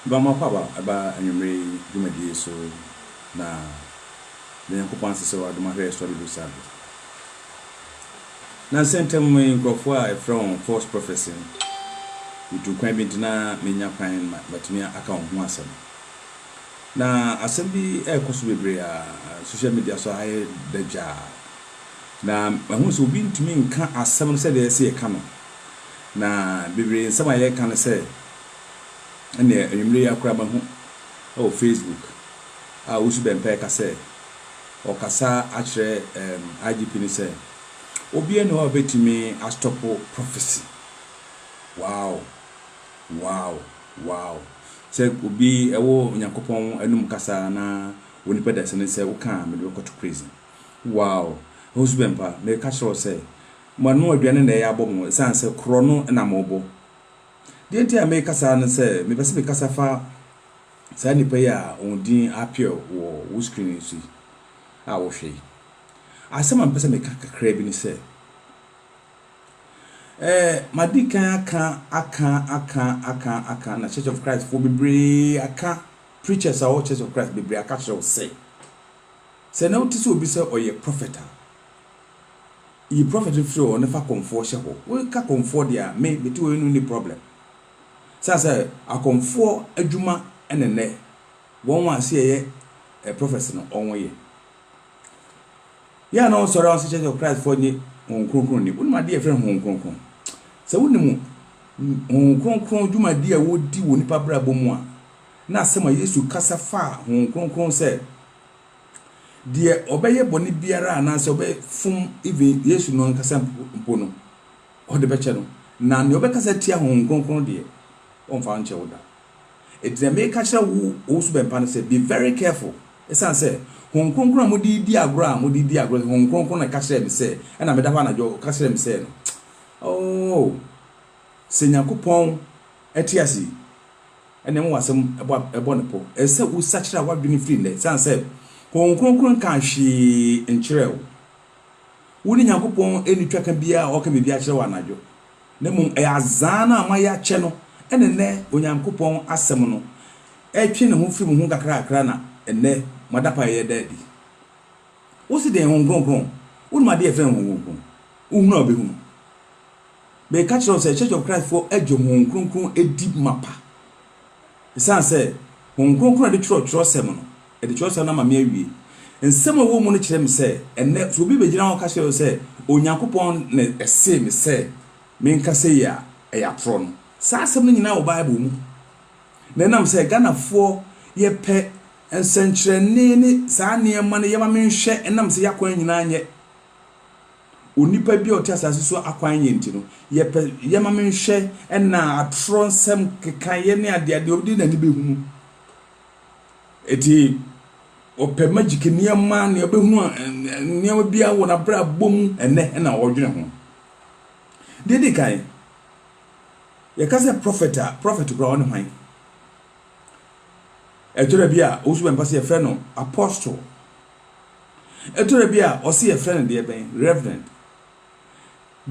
Guamma pa ba ɛba anwummere yi dwumadi yi so na da Nyankopɔn ase sɛ wadom ahwɛ yɛ sɔre du saa bere. Nansa ntam yi nkurɔfoɔ a yɛfrɛ wɔn false prophets yi wotu kwan bi nti na menya kwan ma matumi aka wɔn ho asɛm. Na asɛm bi ɛrekɔ so bebree a social media so ayɛ dɛ gyaa. Na mahu sɛ obi ntumi nka asɛm no sɛdeɛ ɛsɛ yɛka no. Na bebree nsɛm a yɛka no sɛ ɛnneɛ anwummere yi ara koraa mahu wɔ Facebook a Owusu Bɛmpɛɛ ka sɛ ɔkasa akyerɛ ɛɛm IGP no sɛ obiara nni hɔ a ɔbɛtumi astɔpo prophecy. Wow! Wow! Wow! Sɛ obi wɔ Onyankopɔn anum kasa na wɔ nipa dasani sɛ woka a mede bɛkɔto prison. Wow! Owusu Bɛmpa meka kyerɛ wo sɛ Moanoa aduane na ɛyɛ abɔ mo esiane sɛ korɔno na morebɔ. Deɛ enti a mereka saa ne sɛ mepɛ sɛ mekasa fa saa nnipa yi a wɔn din appear wɔ wo screen yi so yi a wohwɛ yi. Asɛm a mepɛ sɛ meka kakraa bi ne sɛ, eh, madi kan aka, aka, aka, aka, aka, na Church of Christ foɔ bebree aka, preachers a wɔwɔ Church of Christ bebree aka kyerɛ wo sɛ, sɛ na wote sɛ obi sɛ ɔyɛ prophet a, Yi prɔfɛt no firi hɔ na fa kɔmfoɔ hyɛ hɔ. Woka kɔmfoɔ deɛ a, me mete hɔ yi no nni prɔblɛm. Ɛsiane sɛ akɔmfoɔ adwuma na nnɛ wɔn a sɛ yɛyɛ prɔfɛt no wɔn yɛ. Yɛ a na wɔsɔre a wɔsɛ Church of Christ foɔ nye Honhom Kronkron nni. Wonim adeɛ a yɛfrɛ no Honhom Kronkron? Sɛ wonim Honhom Kronkron dwumadie a wɔdi wɔ nnipa abrabɔ mu a, na asɛm a Yesu kasa faa Honhom Kronkron sɛ, deɛ ɔbɛyɛ bɔne biara anaasɛ ɔbɛfom even Yesu no ankasa mpo no, ɔde bɛkyɛ no. Na nea ɔbɛkasa tia Honhom Kronkron deɛ, wɔmfa nkyɛ wo da. Enti deɛ meka kyerɛ wo, wo so bɛmpa no sɛ, be very careful. Ɛsiane sɛ Honhom Kronkron a mode redi agorɔ a mode redi agorɔ, Honhom Kronkron na ɛka kyerɛɛ me sɛ, ɛna meda hɔ anadwo ɔka kyerɛɛ me sɛ no, oh, sɛ Nyankopɔn te ase yi, Ɛnna ɛma w'asɛm bɔ ɛbɔ ne pɔ. Ɛsɛ sɛ wosakyera w'adwene firi nnɛ, esiane sɛ Honhom Kronkron nkaa hwee nkyerɛɛ wo. Wo ne Nyankopɔn nni twaka biara a ɔreka biribi akyerɛ wo anadwo, na mmom ɛyɛ azaa no a moayɛ akyɛ no na ɛnnɛ Onyankopɔn Asɛm no retwe ne ho firi mo ho nkakrakra na ɛnnɛ mo adapaeɛ reda adi. Wose deɛn Honhom Kronkron? Wonim adeɛ a yɛfrɛ no Honhom Kronkron? Wohunu a wobɛhunu. Mereka kyerɛ wo sɛ Church of Christ foɔ agye Honhom Kronkron adi mapa. Esiane sɛ Honhom Kronkron na ɛde twerɛ twerɛsɛm no, ɛde twerɛsɛm no ama me awie. Nsɛm a ɛwɔ mu no kyerɛ me sɛ, ɛnnɛ sɛ obi bɛgyina hɔ aka kyerɛ wo sɛ Onyankopɔn na ɛsee me sɛ menka sei a, ɛyɛ atorɔ no. Saa asɛm no nyinaa wɔ Bible mu. Na ɛnam sɛ Ghanafoɔ yɛpɛ nsɛnkyerɛnne ne saa nneɛma no yɛma menhwɛ ɛnam sɛ yɛakwan nyinaa nyɛ. Onipa bi a ɔte asase so akwan yɛ nti no, yɛpɛ yɛma me nhwɛ ɛna atorɔ nsɛm kekaeɛ ne adeadeɛ ɔde n'ani bɛhunu. Ɛti ɔpɛ magic nneɛma ne ɔbɛhunu nneɛma bi wɔ n'abrabɔ mu ɛnɛ ɛna ɔdwene ho. Deɛ di kan, yɛka sɛ prophet a, prophet koraa ɔne hwan? Ɛtwerɛ bi a ɔsu bɛmpa sɛ yɛfrɛ no apostle. Ɛtɔ da bi a ɔse yɛfrɛ no deɛ bɛn? Reverend.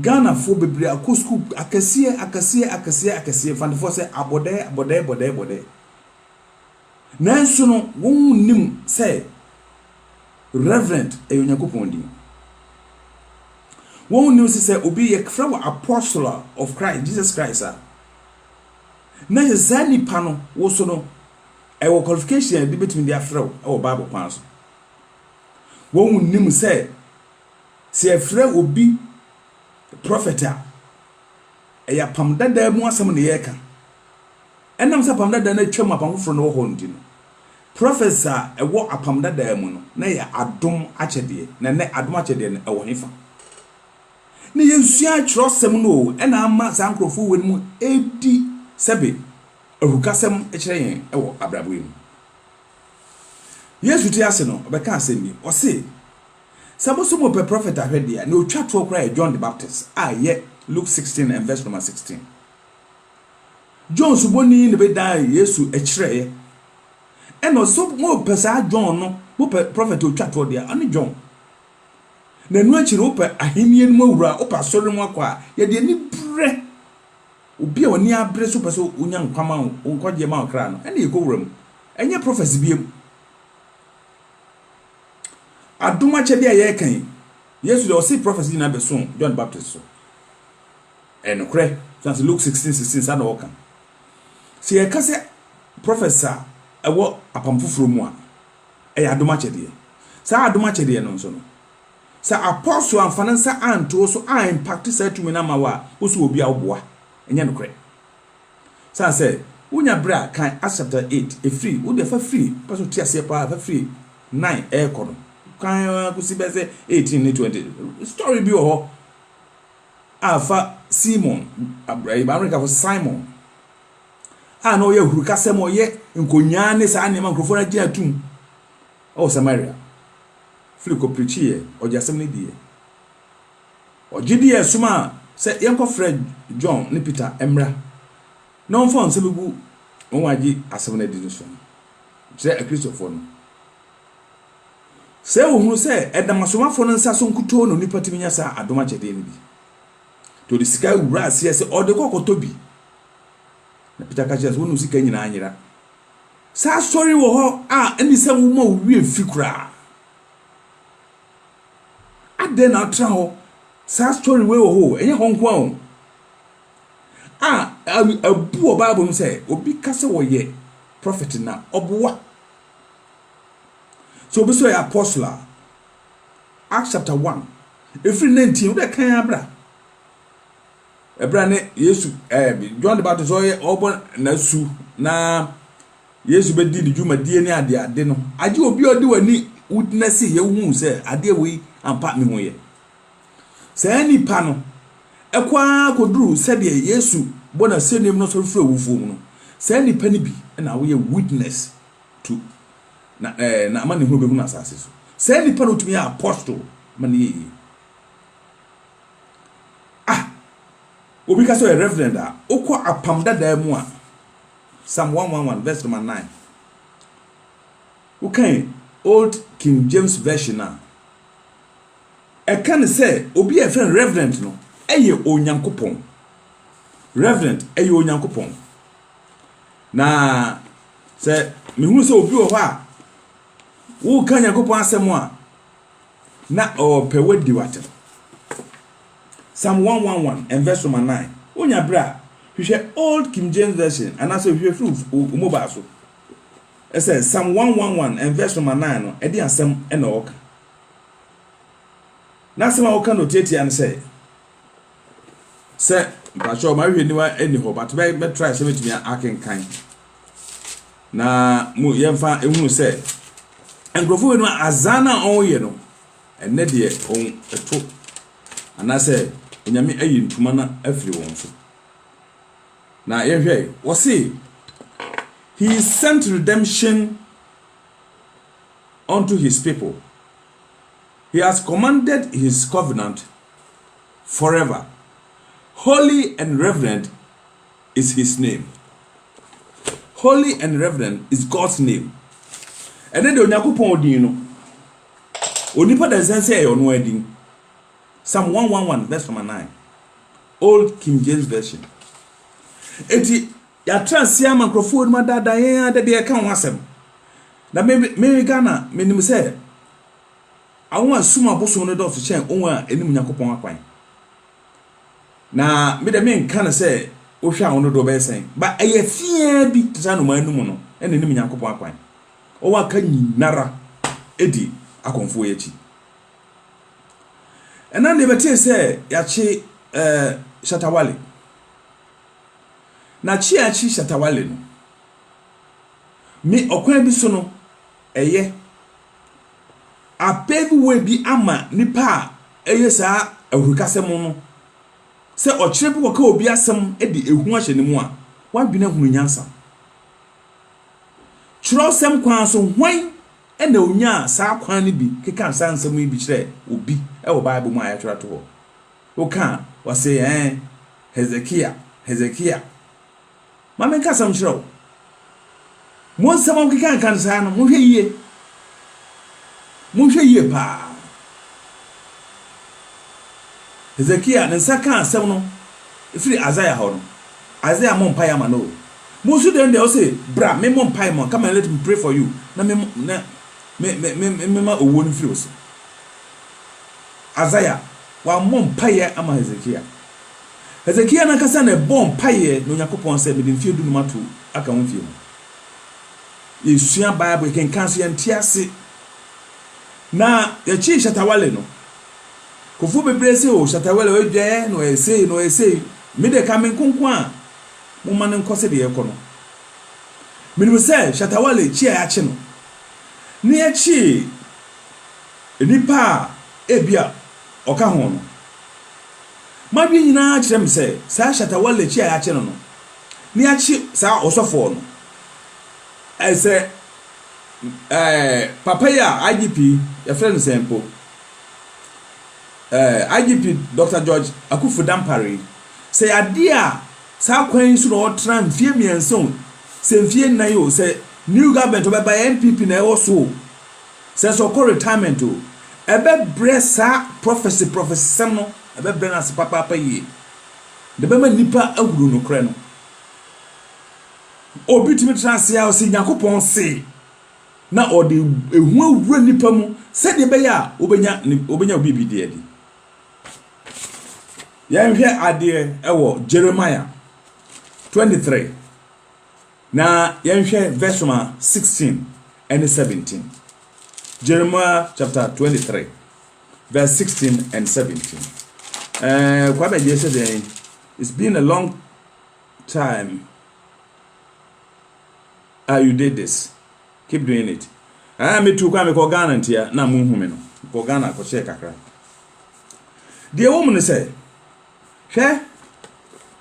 Ghanafoɔ bebree akɔ sukuu akɛseɛ akɛseɛ akɛseɛ akɛseɛ, Mfantefoɔ sɛ abɔdɛɛ bɔdɛɛ bɔdɛɛ bɔdɛɛ. Nanso no wɔn nnim sɛ Reverend ɛyɛ Onyankopɔn din. Wɔn nnim sɛ sɛ obi yɛfrɛ wɔ Apostle of Christ, Jesus Christ a, na kyerɛ saa nipa no wo so no, Ɛwɔ qualification a ebi betumi de afrɛ wo wɔ Bible kwan so. Wɔn nim sɛ, sɛ yɛfrɛ obi prɔfɛt a, ɛyɛ apam dada mu asɛm na yɛreka. Ɛnam sɛ apam dada no atwam, apam foforɔ no wɔ hɔ nti no, prɔfɛts a ɛwɔ apam dada mu no, na ɛyɛ adom akyɛdeɛ. Na nnɛ adom akyɛdeɛ no ɛwɔ hefa? Na yɛsua twerɛsɛm no o, ɛna ama saa nkurɔfoɔ wɔ no mu ɛdi sɛbe. Ahukasɛm kyerɛ yɛn wɔ abrabɔ yi mu. Yesu te ase no, ɔbɛkaa asɛm bi. Ɔse, Sɛ mo nso mopɛ prɔfɛt ahwɛ deɛ a, nea ɔtwa toɔ koraa yɛ John the Baptist a yɛ Luke sixteen and verse number sixteen. John Suboni na ɛbɛdaa Yesu ɛkyerɛeɛ. Ɛna ɔse, sɛ mopɛ saa John no, mopɛ prɔfɛt a ɔtwa toɔ deɛ a, ɔne John. Na ɛno akyi no, wopɛ ahennie no mu awura a, wopɛ asɔre no mu akɔ a, yɛde aniberɛ Obi a ɔnni abere so pɛ sɛ onya nkwa ma nkwagyeɛ ma ɔkra no, ɛnna yɛkɔ wuram. Ɛnyɛ prophecy biam. Adom akyɛdeɛ a yɛreka yi, Yesu deɛ ɔse prophecy nyinaa bɛso John Baptist so. Ɛyɛ nokorɛ. So ase Luke 16, 16 saa na ɔka. Sɛ yɛka sɛ prophecy a ɛwɔ apam foforɔ mu a, ɛyɛ adom akyɛdeɛ. Saa adom akyɛdeɛ no nso no, Sɛ apostle amfa ne nsa anto wo so an impact saa tumi no ama wo a, wo so wɔ obi a woboa? Ɛnyɛ nokorɛ. Sane sɛ, wo nya berɛ a, kan Acts chapter eight, ɛfiri, wo deɛ fa firi, wopɛ sɛ wote aseɛ paa a, fa firi nine ɛrekɔ no, kan ara kɔsi bɛyɛ sɛ eighteen ne twenty. Story bi wɔ hɔ a fa Simon, Amerikafo Simon, a na ɔyɛ ahurukasɛm, ɔyɛ nkonyaa ne saa nneɛma, nkurɔfoɔ no agye atum. wɔ Samaria, firi kɔ prikyiiɛ, ɔgye asɛm no diiɛ. Ɔgye diiɛ somaa sɛ yɛnkɔfrɛ John ne Peter mmra na wɔmfa wɔn nsa bɛgu wɔn a agye asɛm no adi no so no, kyerɛ Akristofoɔ no. Sɛ wɔhunu sɛ ɛnam asomafoɔ no nsa so nkutoo na onipa tumi nya saa adom akyɛdeɛ no bi, nti ɔde sika wura aseɛ sɛ ɔde kɔ kɔtɔ bi. Na Peter ka kyerɛɛ no sɛ, Wo ne wo sika nyinaa nyera. Sɛ asɔre wɔ hɔ a, ɛne sɛ woma wo werɛ fi koraa. Adɛn na wotra hɔ? Saa asɔre wei wɔ hɔ o, ɛnyɛ hɔ nko ara o. A, abu wɔ Bible mu sɛ obi ka sɛ wɔyɛ prɔfɛt na ɔboa. Sɛ obi sɛ ɔyɛ apɔstol a, Acts chapter one, ɛfiri 19, wodɛ kan ara bra. bere a ne Yesu ɛɛ John de ba to sɛ ɔyɛ ɔbɔ n'asu na Yesu bɛdi ne dwumadie ne adeade no agye obi a ɔde w'ani wogyina si yɛ wohu sɛ adeɛ wei ampa me ho yɛ saa nipa no ɛkɔ ara kɔduru sɛdeɛ Yesu bɔ n'asɛnnuam no sɔre firi awufoɔ mu no saa nipa no bi na woyɛ witness to na ɛɛ na ama ne ho bɛhunu asase so saa nipa no tumi yɛ apostle ma ne yɛyie Ah! Obi ka sɛ ɔyɛ Reverend a, wokɔ Apam Dadaa mu a, Psalm 111, verse number 9. Wokan Old King James Version a, ɛka ne sɛ obi a yɛfrɛ no Reverend no yɛ Onyankopɔn. Reverend yɛ Onyankopɔn. Na sɛ mehu sɛ obi wɔ hɔ a, woka Nyankopɔn asɛm a, Na ɔɔpɛ w'adi w'atem. Psalm one one one and verse number nine, wo nya berɛ a, hwehwɛ old King James version anaa sɛ hwehwɛ firi wo wo mobile so, ɛsɛ Psalm one one one and verse number nine no ɛdeɛn asɛm ɛna ɔɔka? N'asɛm a ɔɔka no ɔtiatia ne sɛ, sɛ mpakyɛw mahwehwɛ niwa ɛni hɔ but bɛ bɛ try sɛ bɛtumi akenkan na mo yɛmfa ehunu sɛ nkurɔfoɔ wei no azan a wɔyɛ no ɛnɛ deɛ wɔn ɛto anaasɛ onyame ayi ntoma no afiri wɔn so na yɛhwɛ wɔse he sent redemption unto his people. He has commanded his covenant forever, holy and reverend is his name. Holy and reverend is God's name. Ɛne de Onyankopɔn din no, onipa da nsɛn sɛ ɛyɛ ɔno ara din. Psalm 111 verse number 9, Old King James Version. Enti yɛatra ase ama nkurɔfoɔ anom adaadaa yɛn ara da bi ɛka ho asɛm. Na me, me Ghana, menim sɛ Awon a sum abosom no dɔɔso kyɛn awon a enim Nyankopɔn akwan. Na me de mennka no sɛ wohwɛ a wo dodoɔ bɛyɛ sɛn, ba ɛyɛ fi ara bi te sɛ anomaa anum no na enim Nyankopɔn akwan. Wɔn a aka nyinara di akɔmfoɔ yi akyi. Ɛna deɛ bɛtee sɛ yɛakye eh, Shatta Wale. Na kye a akye Shatta Wale no, me ɔkwan bi so no, Ɛyɛ. Apeeviwee bi ama nipa a ɛyɛ saa ahurukasɛm no sɛ ɔkyerɛ bi kɔka obi asɛm de ehu ahyɛ ne mu a, w'adwene ahunu nyansa. Kyerɛwsɛm kwan so, hwan na onyaa saa kwan no bi kekaa saa nsɛm yi bi kyerɛɛ obi wɔ Bible mu a yɛatwerɛ ato hɔ? Woka a, wɔse, Ɛɛ, Hesekia, Hesekia. Ma menka asɛm nkyerɛ wo. Mo nsɛm a mokekanka no saa no, monhwɛ yie. Monhwɛ yie paa. Hesekia ne nsa kaa asɛm no firi Isaiah hɔ no, Isaiah mmɔ mpaeɛ ama no o. Mo nso dɛn deɛ ɔse bra memmɔ mpaeɛ mma wo, come and let me pray for you, na me na me me me mema owuo no mfiri wo so. Isaiah wammɔ mpaeɛ ama Hesekia. Hesekia no ankasa na ɛbɔɔ mpaeɛ na Onyankopɔn sɛ mede mfeɛ dunum ato aka wo mfeɛ mu. Yɛsua Bible, yɛkenkan nso yɛnte ase. Na yɛkyee Shatta Wale no, nkurɔfoɔ bebree se oh Shatta Wale ɔyɛ dwaeɛ na ɔyɛ sei na ɔyɛ sei. Me deɛ ɛka me nko nko a momma no nkɔ sɛdeɛ ɛrekɔ no. Menim sɛ Shatta Wale kye a yɛakye no ne yɛkyee nnipa a ebia ɔka ho no M'adwene nyinaa kyerɛ me sɛ saa Shatta Wale akyi a yɛakye no no, na yɛakye saa ɔsɔfoɔ no. Ɛɛ sɛ ɛɛ papa yi a IGP, yɛfrɛ no sɛn mpo, ɛɛ IGP Dɔkta George Akuffo Dampare yi, sɛ ɛyɛ adeɛ a saa kwan yi so na ɔtena mfeɛ mmiɛnsa o, sɛ mfeɛ nnan o, sɛ new government ɔbɛba yɛ NPP na ɛwɔ so o, Sɛ sɛ ɔkɔ retirement o, ɛbɛbrɛ saa prophecy prophecy sɛm no, ɛbɛbrɛ no ase papaapa yie. Na ɛbɛma nnipa ahunu nokorɛ no. Obi tumi tra ase ara ɔse Nyankopɔn se, na ɔde ehu awura nnipa mu sɛdeɛ ɛbɛyɛ a wobɛnya ne wobɛnya wo biribi de adi. Yɛnhwɛ adeɛ wɔ Jeremiah 23. Na yɛnhwɛ vɛs ma sixteen ɛne seventeen. Jeremiah chapter twenty three vɛs sixteen and seventeen. Ɛɛ eh, Kwame Gye sɛ dɛn? It's been a long time ah you did this keep doing it. Ɛɛ ah, metu kwan mekɔ Ghana ntia na mo nhu me no mekɔ Ghana akɔhyɛ kakra. Deɛ ɛwɔ mu no sɛ hwɛ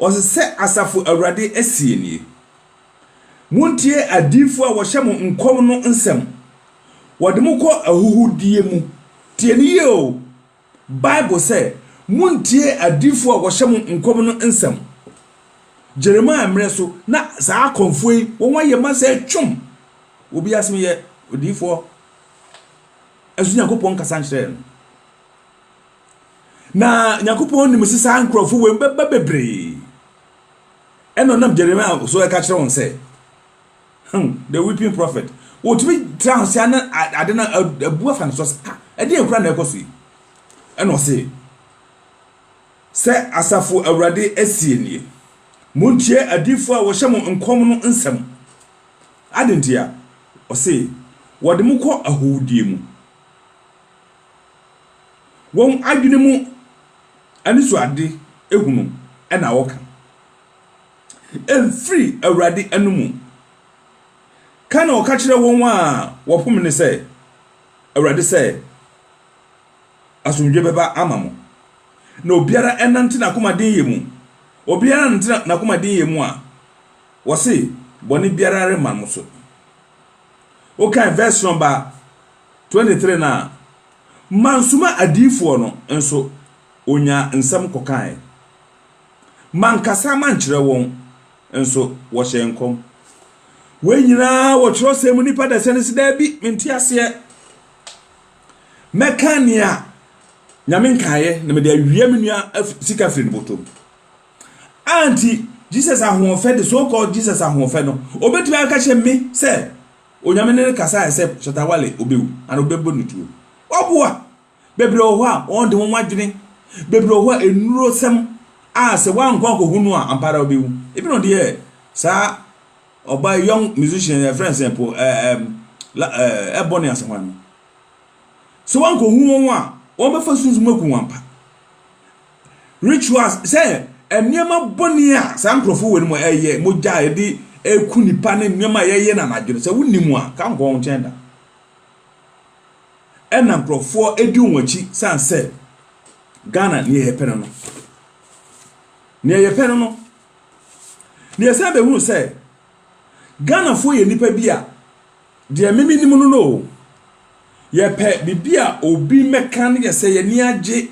Ɔse sɛ Asafo Awurade seɛ nie, Montie adiyifoɔ a wɔhyɛ mo nkɔm no nsɛm, wɔde mo kɔ ahuhudeɛ mu. Tie no yie o, Bible sɛ, Montie adiyifoɔ a wɔhyɛ mo nkɔm no nsɛm. Jeremiah mmerɛ so, na saa akɔmfoɔ yi, wɔn ayɛ ma sɛ twom. Obi asem yɛ odiyifoɔ, nanso Nyankopɔn nkasa nkyerɛɛ no. Na Nyankopɔn nim se saa nkurɔfo wei bɛba bebree. Ɛna ɔnam Jeremia so ɛka kyerɛ wɔn sɛ, hmm, the weeping prophet, wɔtumi tra ho sea na ade no abu afa ne so sɛ, ah, ɛdeɛ nkura na ɛkɔ so yi. Ɛna ɔse, sɛ asafo awurade asie nie, montie adiifoɔ a wɔhyɛ mo nkɔm no nsɛm. Adentia, ɔse, wɔde mo kɔ ahowdie mu. Wɔn adwene mu anisoade hunu na wɔka. Ɛmfiri Awurade anomu. Ka na ɔka kyerɛ wɔn a wɔpom no sɛ, Awurade sɛ, Asomdwoeɛ bɛba ama mo. Na obiara nnante n'akomadenyɛ mu. Obiara nnante n'akomadenyɛ mu a, wɔse, bɔne biara remma mo so. Wokan verse no ba a, Twenty three no a, mansoma adiyifoɔ no, nso wɔnyaa nsɛm kɔkaeɛ, mankasa mankyerɛ wɔn, nso wɔhyɛɛ nkɔm. Wei nyina ara wɔ twerɛsɛm mu, nnipa da sɛne se daabi, mente aseɛ. Mɛka nea Nyame nkaeɛ, na mede awia me nua sika firi ne botom. Anti Jesus ahoɔfɛ de, so called Jesus ahoɔfɛ no, ɔbɛtumi aka kyerɛ me sɛ, Onyame ne no kasaɛ sɛ Shatta Wale obewu anaa obɛbɔ no tuo. Waboa! Bebree wɔ hɔ a wɔn de wɔn adwene, bebree wɔ hɔ a nnuro sɛm a sɛ wankɔ ankɔhu no a ampa ara obewu. Ebi na ɔde yɛɛ saa ɔbaa yi young musician yi a yɛfrɛ no sɛn po ɛ ɛ ɛm la ɛ ɛ Ebony Asamoah no. Sɛ wankɔhu wɔn a wɔbɛfa sunsum aku wɔn ampa. Rituals sɛ nneɛma bɔne a saa nkurɔfo wɔ no mu ɛyɛ mogya a yɛde ɛku nipa ne nneɛma a yɛyɛ no anadwo no sɛ wonni mu a ka nkɔ wɔn nkyɛn da ɛna nkurɔfoɔ ɛdi wɔn akyi san sɛ Ghana neɛ yɛpɛ no no neɛ yɛpɛ no no neɛ san bɛhunu sɛ Ghanafoɔ yɛ nipa bi a deɛ meme nim no no yɛpɛ biribi a obi mɛka no yɛ sɛ yɛni agye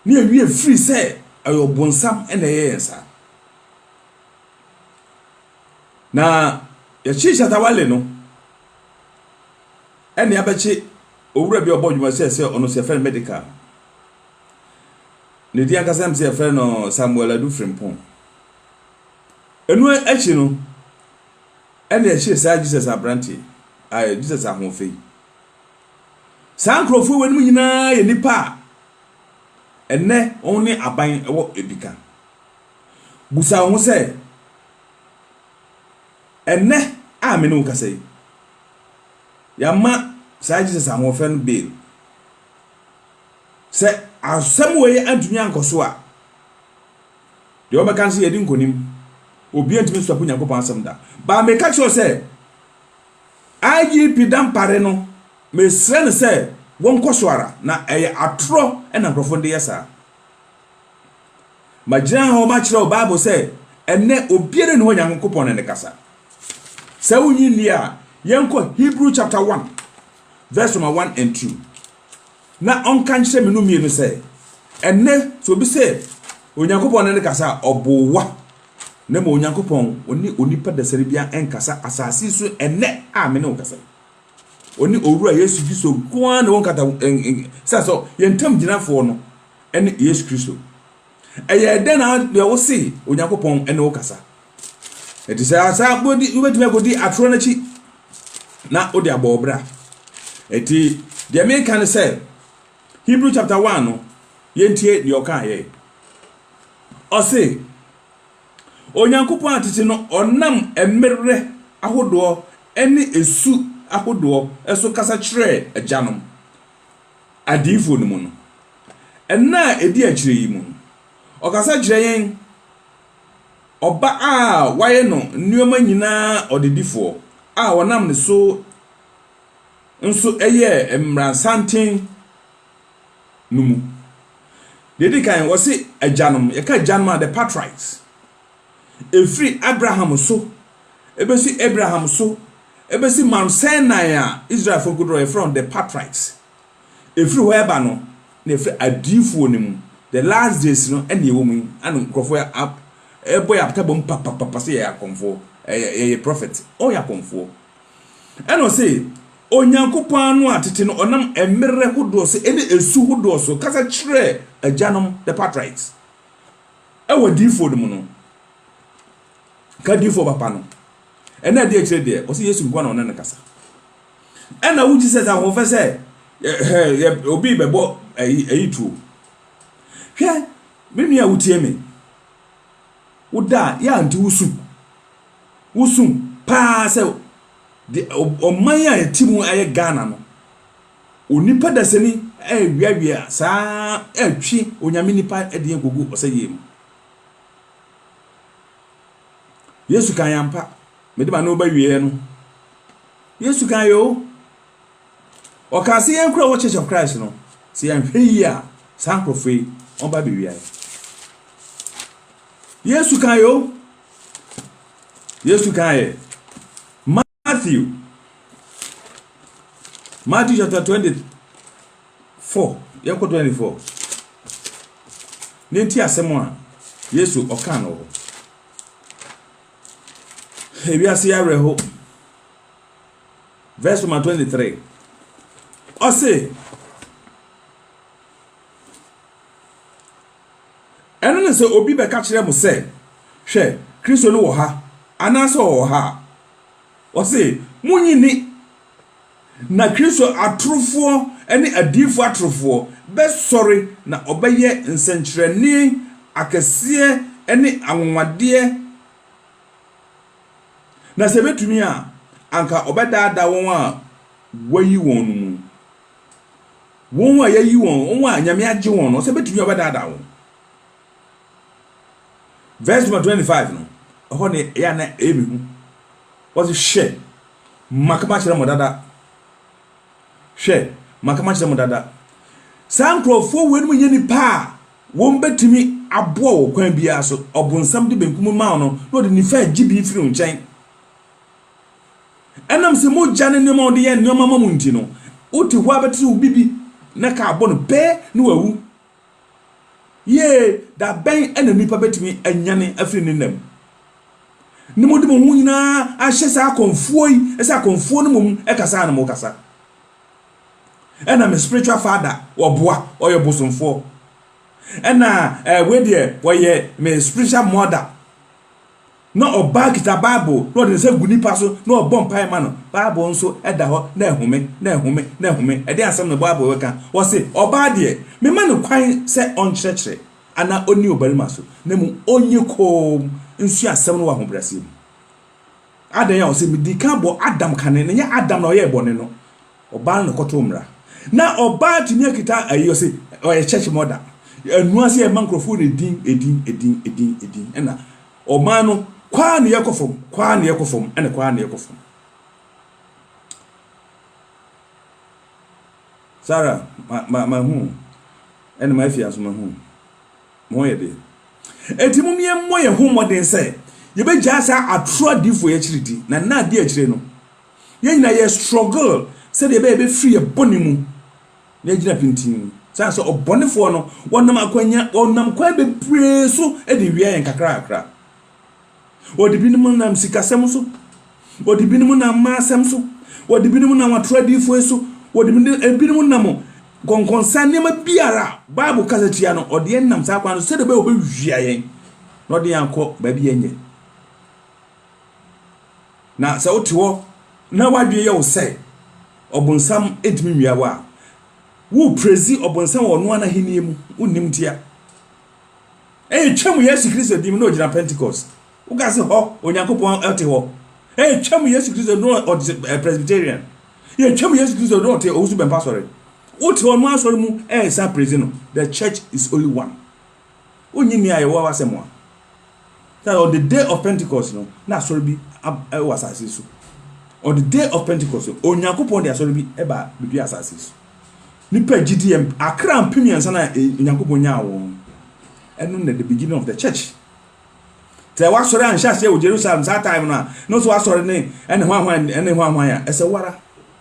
Ne awiei ɛfiri sɛ ɛyɛ ɔbonsam na ɛyɛ yɛn saa. Na yɛkye Shatta Wale no ɛne abɛkye owura bi a ɔbɔ adwuma sɛ sɛ ɔno sɛ yɛfrɛ no medical. Ne din ankasa nim sɛ yɛfrɛ no Samuel Adu Frimpong. Ɛno akyi no ɛne ɛkye saa Jesus aberante, Jesus ahoɔfɛ yi. Saa nkurɔfoɔ wei nom nyinaa yɛ nnipa a ɛnnɛ wɔn ne aban wɔ adika. Busa wo ho sɛ, ɛnnɛ a me ne wo kasa yi, yɛama saa Jesus Ahoɔfɛ no bail. Sɛ asɛm wei antumi ankɔ so a, deɛ wɔbɛka no sɛ yɛdi nkonim. Obiara ntumi nstɔpo Nyankopɔn asɛm da. But meka kyerɛ wo sɛ, IGP Dampare no, mesrɛ no sɛ wɔnkɔ so ara, na ɛyɛ atorɔ na nkurɔfo no de yɛ saa. Magyina ha makyerɛ wo Bible sɛ ɛnnɛ obiara nni hɔ Nyankopɔn ne no kasa. Sɛ wonnye nni a, yɛnkɔ Hebrew chapter 1 verse number 1 and 2. na ɔnka nkyerɛ me no mmienu sɛ, Ɛnnɛ, sɛ obi sɛ Onyankopɔn ne no kasa a, ɔboa, na mmom Onyankopɔn, ɔne onipa dasani biara nkasa asase yi so ɛnnɛ a me ne wo kasa yi. Ɔne Owura Yesu Kristo nko ara na wɔnkata sɛ sɛ yɛn ntam gyinafoɔ no ne Yesu Kristo. Ɛyɛɛ dɛn na deɛ wose Onyankopɔn ne wo kasa? Ɛte sɛ asa wobɛtumi akɔdi atorɔ no akyi na wode abɔ wo bra. Ɛti deɛ meka ne sɛ Hebrew chapter 1 no yɛntie deɛ ɔkaa yɛ. Ɔse Onyankopɔn atete no ɔnam mmerɛ ahodoɔ ne ɛsu ahodoɔ so kasa kyerɛɛ agyanom. Adiyifo no mu no. Nna a edi akyiri yi mu no, ɔkasa kyerɛ yɛn Ɔba a wɔayɛ no nneɛma nyinaa ɔdedifo a wɔnam ne so nso yɛɛ mmarasanten no mu. Nea edi kan, wɔse agyanom. Yɛka agyanom a, the patriarchs. ɛfiri Abraham so bɛsi Abraham so bɛsi Mount Sinai a Israelfoɔ kɔduru hɔ, yɛfrɛ wɔn the patriarchs. Ɛfiri hɔ ɛba no, na ɛfiri adiyifoɔ no mu, the last days no ɛna ɛwɔ mu yi, ɛna nkurɔfoɔ ɛbɔ yɛ apata bom papapapa sɛ yɛyɛ akɔmfoɔ, yɛyɛ prophet, ɔyɛ akɔmfoɔ. Ɛna ɔse, Onyankopɔn ano a tete no ɔnam mmerɛ hodoɔ so ɛne ɛsu hodoɔ so kasa kyerɛɛ agyanom, the patriarchs. Wɔ adiyifoɔ no mu no, ka adiyifoɔ papa no. Ɛno a ɛde akyire deɛ, ɔse Yesu nkoa na ɔne no kasa. Ɛna wo Jesus ahoɔfɛ sɛ, hɛ, obi bɛbɔ ayi, ayi tuo. Hwɛ, me nua a wotie me, wo da a, yɛ ante wo su. Wo su paa sɛ, de, ɔman a yɛte mu ayɛ Ghana no, Onipa dasani reweawea saa ara retwe Onyame nipa deɛ kɔgu ɔsɛeɛ mu. Yesu kaeɛ ampa. Mede m'ano ba wieɛ no, Yesu kaeɛ o. Ɔkaa sɛ yɛn kora wɔ Church of Christ no, sɛ yɛanhwɛ yie a, saa nkurɔfoɔ yi, wɔba abɛwia yɛn. Yesu kaeɛ o. Yesu kaeɛ. Matthew, Matthew chapter 24, yɛkɔ 24. Ne nti asɛm a Yesu ɔka no hɔ. Ewiase awerɛho. Verse number 23. Ɔse, Ɛno ne sɛ obi bɛka kyerɛ mo sɛ, 'Hwɛ, Kristo no wɔ ha! anaasɛ 'Ɔwɔ ha! a, wɔse, 'Munnye nni! Na Kristo atorofoɔ ne adiyifoɔ atorofoɔ bɛsɔre na wɔbɛyɛ nsɛnkyerɛnne akɛseɛ ne anwanwadeɛ, na sɛ ɛbɛtumi a, anka wɔbɛdaadaa wɔn a wɔayi wɔn no mu. Wɔn a yɛayi wɔn, wɔn a Nyame agye wɔn no, sɛ bɛtumi a wɔbɛdaadaa wɔn. Verse number 25 no, ɛhɔ ne ɛyɛ a na ɛyɛ me hu. Wɔse, hwɛ, maka makyerɛ mo dada. Hwɛ, maka makyerɛ mo dada. Saa nkurɔfoɔ wei nom nyɛ nipa a wɔn bɛtumi aboa wɔ kwan biara so. Ɔbonsam de benkum maa no na ɔde nifa agye bi firi wo nkyɛn. Ɛnam sɛ mogya ne nneɛma a wɔde yɛ nneɛma ma mo nti no, wote hɔ ara bɛte sɛ obi bi na kaa bɔ no pɛ na wawu. Yiee, da bɛn na nnipa bɛtumi anyane afiri ne nna mu? Ne mode mo ho nyinaa ahyɛ saa akɔmfoɔ yi sɛ akɔmfoɔ no mmom kasa a na mokasa. Ɛna me spiritual father ɔboa, ɔyɛ bosomfoɔ. Ɛna eh, wei deɛ ɔyɛ me spiritual mother. Na ɔbaa kita Bible na ɔde ne nsa gu nipa so na ɔrebɔ mpae ma no. Bible nso da hɔ na ɛhome, na ɛhome, na ɛhome. Ɛdeɛn asɛm na Bible reka? Wɔse, Ɔbaa deɛ, memma no kwan sɛ ɔnkyerɛkyerɛ anaa ɔnni ɔbarima so, na mmom ɔnyɛ komm nsua asɛm no wɔ ahobrɛaseɛ mu. Adɛn a? Ɔse, medii kan bɔ Adam kane, na ɛnyɛ Adam na ɔyɛɛ bɔne no, ɔbaa no na ɔkɔtoo mmara. Na ɔbaa atumi akita ayi, ɔse, ɔyɛ church mother, ɛnoa sɛ yɛma nkurɔfoɔ no edin, edin, edin, edin, edin, ɛna Ɔman no, kɔ ara na yɛkɔ fam, kɔ ara na yɛkɔ fam, ɛna kɔ ara na yɛkɔ fam. Sara, ma, ma, ma hu. Ɛna ma afia nso ma hu. Mo yɛ de. Eti mo yɛn mmɔ yɛn ho mmɔden sɛ yɛbɛgyaa saa atoro adifo yɛ akyiri di. Na nna adi akyire no, yɛn nyinaa yɛ struggle sɛdeɛ ɛbɛyɛ yɛbɛfiri yɛ bɔne mu na agyina pintinn. Esiane sɛ ɔbɔnefoɔ no, wɔnam akwannya, wɔnam kwan bebree so de wia yɛn kakrakra. Wɔde binom nam sikasɛm so, wɔde binom nam mmaa asɛm so, wɔde binom nam atorɔ adiyifoɔ so, wɔde binom, ebinom nam nkɔnkɔnsa nneɛma biara a Bible kasa tia no, ɔde yɛn nam saa kwan no so sɛdeɛ ɛbɛyɛ a wɔbɛwia yɛn na ɔde yɛn akɔ baabi a ɛnyɛ. Na sɛ wote hɔ na w'adwene yɛ wo sɛ ɔbonsam ntumi nwia wo a, woreprezi ɔbonsam wɔ ɔno ara n'ahenni mu, wonnim ntia. Ɛretwam Yesu Kristo din mu na ogyina Pentecost. Woka se hɔ Onyankopɔn ɔte hɔ. Ɛretwam Yesu Kristo na ɔte eh, Presbyterian. Yɛtwam Yesu Kristo na ɔte Owusu Bɛmpa Asɔre. Wote ɔno asɔre mu ɛresa prezi no. The church is only one. Wonnye nni a yɛwɔ w'asɛm a, sɛ on the day of Pentecost no na asɔre bi wɔ asase so. On the day of Pentecost no, Onyankopɔn de asɔre bi ba bedua asase so. Nipa gyidi yɛ akra mpem mmiɛnsa na e, Onyankopɔn nyaa wɔn. Ɛno na the beginning of the church. Sɛ wasɔre anhyɛ aseɛ wɔ Jerusalem saa time no a, na ɔsɛ wasɔre ne ɛne hwan hwan ɛne hwan hwan a ɛsɛ wara.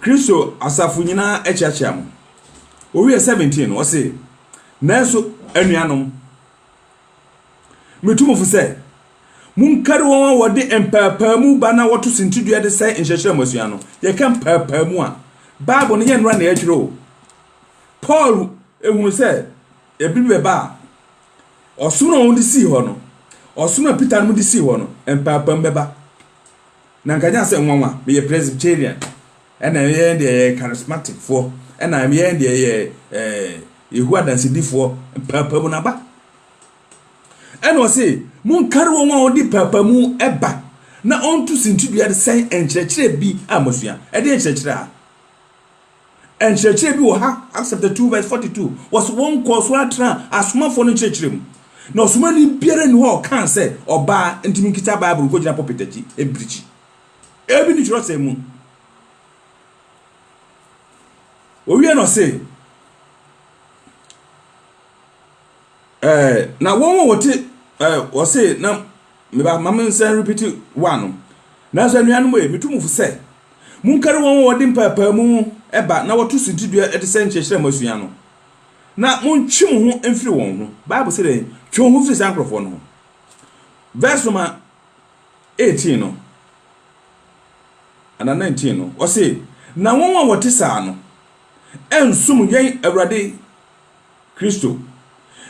Kristo asafo nyinaa akyeakyea mo. Owiee 17 no, ɔse, Nanso anuanom, metu mo fo sɛ, monkari wɔn a wɔde mpɛɛpɛɛmu ba na wɔto sintidua de sɛe nkyerɛkyerɛ a moasua no. Yɛka mpɛɛpɛɛmu a, Bible no, ɛnyɛ nnora na yɛatwerɛ o. Paul hunu sɛ ɛbere bi bɛba a, ɔsom no a wɔde sii hɔ no, ɔsom a Peter nom de sii hɔ no, mpɛɛpɛɛmu bɛba. Na nka nya sɛ nwanwa meyɛ Presbyterian ɛna yɛn yɛn deɛ yɛyɛ Charismatic foɔ ɛna yɛn yɛn deɛ yɛ ɛɛ Yehowa Dansedifoɔ mpaapamu no aba. Ɛna ɔse monkari wɔn a wɔde paapamu ɛba na ɔnto sintidua de sɛn nkyerɛkyerɛ bi a moasua. Ɛdeɛ nkyerɛkyerɛ a? Nkyerɛkyerɛ bi wɔ ha, Acts chapter 2 verse 42, wɔse wɔnkɔɔ so ara tenaa asomafoɔ no nkyerɛkyerɛ mu. Na ɔsomani biara nni hɔ a ɔkaa sɛ ɔbaa nti menkita Bible nkɔgyina pulpit akyi mpirikyi. Ebi nni twerɛsɛm mu. Owie na ɔse, eh, na wɔn a wɔte, eh, ɔse na Me ba, mma mensan nrepiti one no. Nanso anuanom e, metu mo fo sɛ, monkari wɔn a wɔde mpaapaemu ba na wɔto suntidua de sɛe nkyerɛkyerɛ a moasua no, na montwe mo ho mfiri wɔn ho. Bible se dɛn? Twe wo ho firi saa nkurɔfoɔ no ho. Verse number eighteen no, anaa nineteen no, ɔse, Na wɔn a wɔte saa no nsom yɛn Awurade Kristo,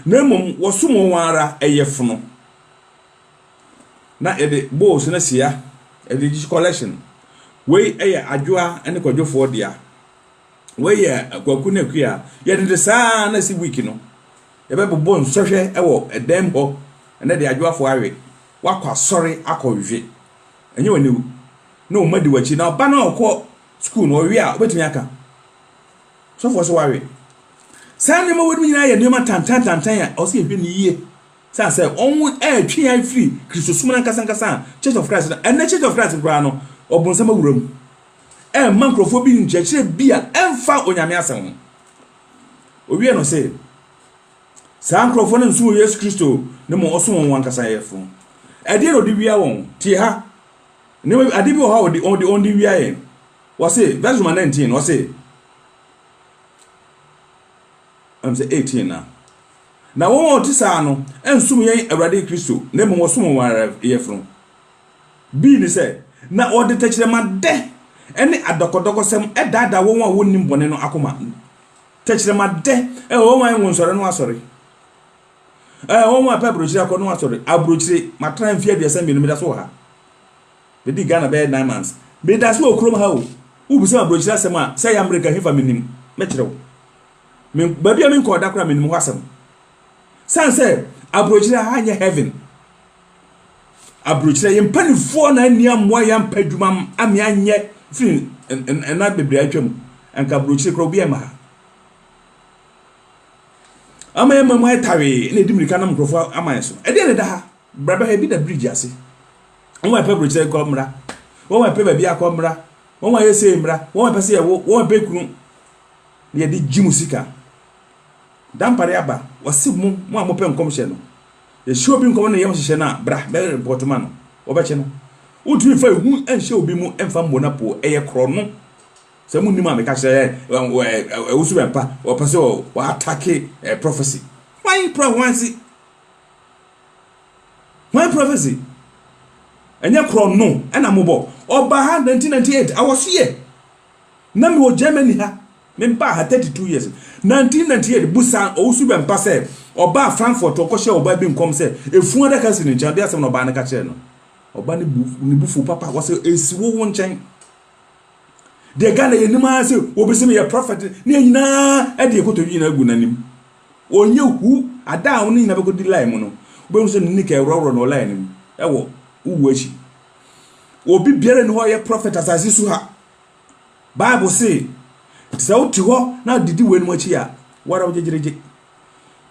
na mmom wɔsom wɔn ara yɛfono. na yɛde bowls no asia de regye collection. Wei yɛ Adwoa ne Kwadwofoɔ dea. Wei yɛ Kwaku ne Akua. Yɛde de saa na ɛsi week no. Yɛbɛbobɔ nsɔhwɛ wɔ dan mu hɔ. Ɛnɛ deɛ Adwoafoɔ awe. Wakɔ asɔre akɔ we. Ɛnyɛ oniwu. Na wɔn mma di w'akyi. Na ɔba no a ɔkɔ sukuu no, ɔwe a, wobɛtumi aka. Sɔfoɔ sɛ wawe. Saa nneɛma wei nyinaa yɛ nneɛma tantantantan a ɛwɔ sɛ yɛhwɛ no yie Sɛ asɛ wɔretwe yɛn afiri Kristosom no ankasa ankasa a, Church of Christ no, ɛnnɛ Church of Christ no koraa no, ɔbonsam awura mu. Ɛremma nkurɔfoɔ bi nkyerɛkyerɛ bi a ɛmfa Onyame asɛm ho. Ɔwie no se, Saa nkurɔfoɔ no nso wɔ Yesu Kristo no mmom ɔso wɔn wɔn ankasa yɛfo. Ɛdeɛ na ɔde wia wɔn? Tie ha, nneɛma bi, adeɛ bi wɔ hɔ a ɔde, ɔde, ɔde wia yɛn. Ɔse, verse number 19, ɔse, ɛm sɛ 18 na. Na wɔn a wɔte saa no nsom yɛn Awurade Kristo, na mmom wɔsom wɔn ara yafunu. Bi ne sɛ, na wɔde tɛkyerɛmadɛ ne adɔkɔdɔkɔsɛm daadaa wɔn a wɔnnim bɔne no akoma. Tɛkyerɛmadɛ, eh, wɔn a ɛnwo nsɔre no asɔre, eh, wɔn a ɛpɛ aburokyire akɔ no asɔre, aburokyire, matena ha mfeɛ aduasa mmienu, meda so wɔ ha. Medi Ghana bɛyɛ nine months. Meda so wɔ kurom ha o. Wobisa me aburokyire asɛm a, sɛ ɛyɛ Amerika hefa mennim, mɛkyerɛ wo. Me baabi a menkɔɔ da koraa menim hɔ asɛm. San sɛ aburokyerɛ ha nyɛ heaven. Aburokyerɛ yɛ mpanimfoɔ na anni amoa yɛ ampa adwuma ame anyɛ firi ɛna bebree atwa mu. Anka aburokyerɛ koraa obi ɛma ha. Ama yɛ ma mu ayɛ tawee na ɛdi mirika nam nkurɔfoɔ ama yɛ so. Ɛdeɛ na ɛda ha. Bra bɛhwɛ bi da bridge ase. Wɔn a ɛpɛ aburokyerɛ kɔ mmra. Wɔn a ɛpɛ baabi akɔ mmra. Wɔn a ɛyɛ sei mmra. Wɔn a ɛpɛ sɛ yɛwo. Wɔn a ɛpɛ kunu. na yɛde gye mo sika. Dampare aba, wɔse mo, mo a mopɛ nkɔmhyɛ no, yɛhyɛ obi nkɔm na yɛyɛ wo nhyehyɛ no a, bra, bɛ report ma no, wɔbɛkye no. Wontumi mfa ehu nhyɛ obi mu mfa mmɔ no apoo, ɛyɛ korɔno. Sɛ monnim a meka kyerɛ yɛ, ɛwosu bɛmpa, wɔpɛ sɛ wɔatake prophecy. Hwan pra hwan se? Hwan prophecy? Ɛnyɛ korɔno ɛna mobɔ. Ɔbaa ha 1998, I was here. Na mewɔ Germany ha, mebaa ha thirty two years. Nineteen ninety eight, busaa Owusu Bɛmpa sɛ ɔbaa Frankfurt, ɔkɔhyɛɛ ɔbaa bi nkɔm sɛ efunu adaka si ne nkyɛn, ɔde asɛm no ɔbaa no ka kyerɛɛ no. Ɔbaa no bu ne bo fuw papa, ɔse esi wo wo nkyɛn. Deɛ Ghana yɛnim ara sɛ obi sɛ meyɛ prɔfɛt ne yɛn nyinaa de yɛn kotodwe nyinaa agu n'anim. Ɔnyɛ hu, ada a wo ne nyinaa bɛkɔdi line mu no, wobɛhu sɛ ne nika ɛworɔworɔ no wɔ line no mu wɔ wo wuo akyi. Obi biara nni hɔ a ɔyɛ prɔfɛt asase so ha. Bible se, sɛ wote hɔ na didi weinom akyi a, wo ara wogyegyeregye.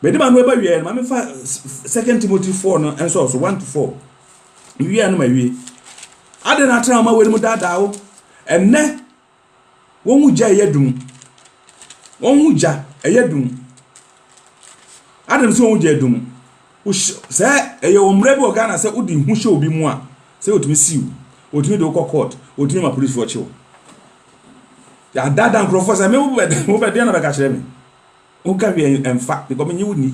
Mede m'ano ɛba wieɛ no, ma mefa Second Timothy 4 no nsɔɔ so, 1 to 4. Mewie a no mawie. Adɛn na atena ama weinom daadaa wo? Ɛnnɛ, Wɔn ho gya ɛyɛ dum. Wɔn ho gya ɛyɛ dum. Adɛn nti wɔn ho gya yɛ dum? Wohyɛ sɛ ɛyɛ wɔn mmerɛ bi wɔ Ghana sɛ wode ho hyɛ obi mu a sɛ wɔtumi si wo, wɔtumi de wo kɔ court, wɔtumi ma polisifoɔ kye wo. Yɛadaadaa nkurɔfoɔ sɛ me wobɛdeɛ na bɛka kyerɛ me. Woka hwee ɛmfa because menye wo nni.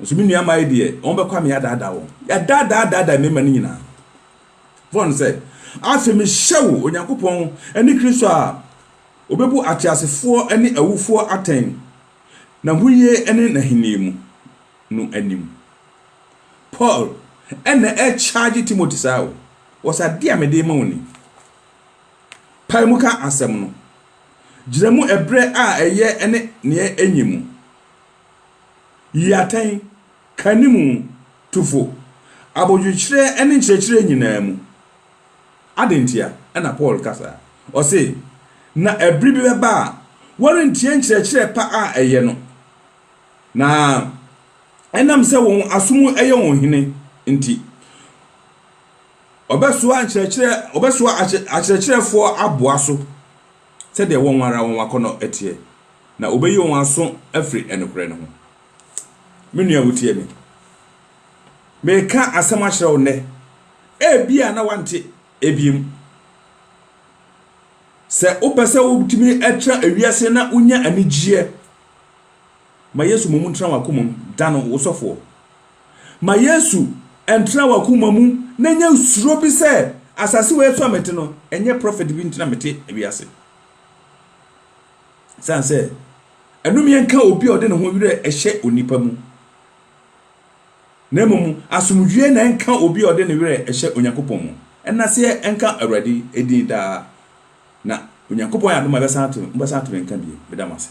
Nso me nua mmaa yi deɛ wɔn bɛkɔ a me yɛadaadaa wɔn. Yɛadaadaa daadaa mmarima no nyinaa. faa no sɛ, Afei mehyɛ wo, Onyankopɔn ne Kristo a obebu ateasefoɔ ne awufoɔ atɛn n'ahoyie ne n'ahennie mu no anim. Paul na ɛrekyaagye Timothy saa o, wɔ sɛ adeɛ a mede rema wo ni. Pae mu ka asɛm no. Gyina mu ɛberɛ a ɛyɛ ne nea ɛnyɛ mu. Yi atɛn Ka ne mu tufo. Abodwokyerɛ ne nkyerɛkyerɛ nyinaa mu. Adɛn ntia na Paul ka saa? Ɔse, Na ɛbere bi bɛba a wɔrentie nkyerɛkyerɛ pa a ɛyɛ no, na ɛnam sɛ wɔn asom yɛ wɔn hene nti, wɔbɛsoa nkyerɛkyerɛ, wɔbɛsoa akyerɛkyerɛfoɔ aboa so sɛdeɛ wɔn ara wɔn akɔnnɔ teɛ, na wɔbɛyi wɔn aso afiri nokorɛ no ho. Me nua a wutie me, mereka asɛm akyerɛ wo nnɛ, ebia na wante ebia mu. Sɛ wopɛ sɛ wotumi tra ewiase na wonya anigyeɛ, ma Yesu mmom ntena w'akoma mu, da no wo sɔfoɔ. Ma Yesu ntena w'akoma mu na nya suro bi sɛ asase wei so a mete no, ɛnyɛ prɔfɛt bi nti na mete ewiase. Esiane sɛ ɛnomyɛ nka obi a ɔde ne ho werɛ hyɛ onipa mu, na mmom asomdwoe na ɛnka obi a ɔde ne werɛ hyɛ Onyankopɔn mu. Ɛnna sɛ ɛnka Awurade din daa, na Onyankopɔn ayɛ adom a ɛbɛsan ato, mobɛsan ato me nka bio. Meda mo ase.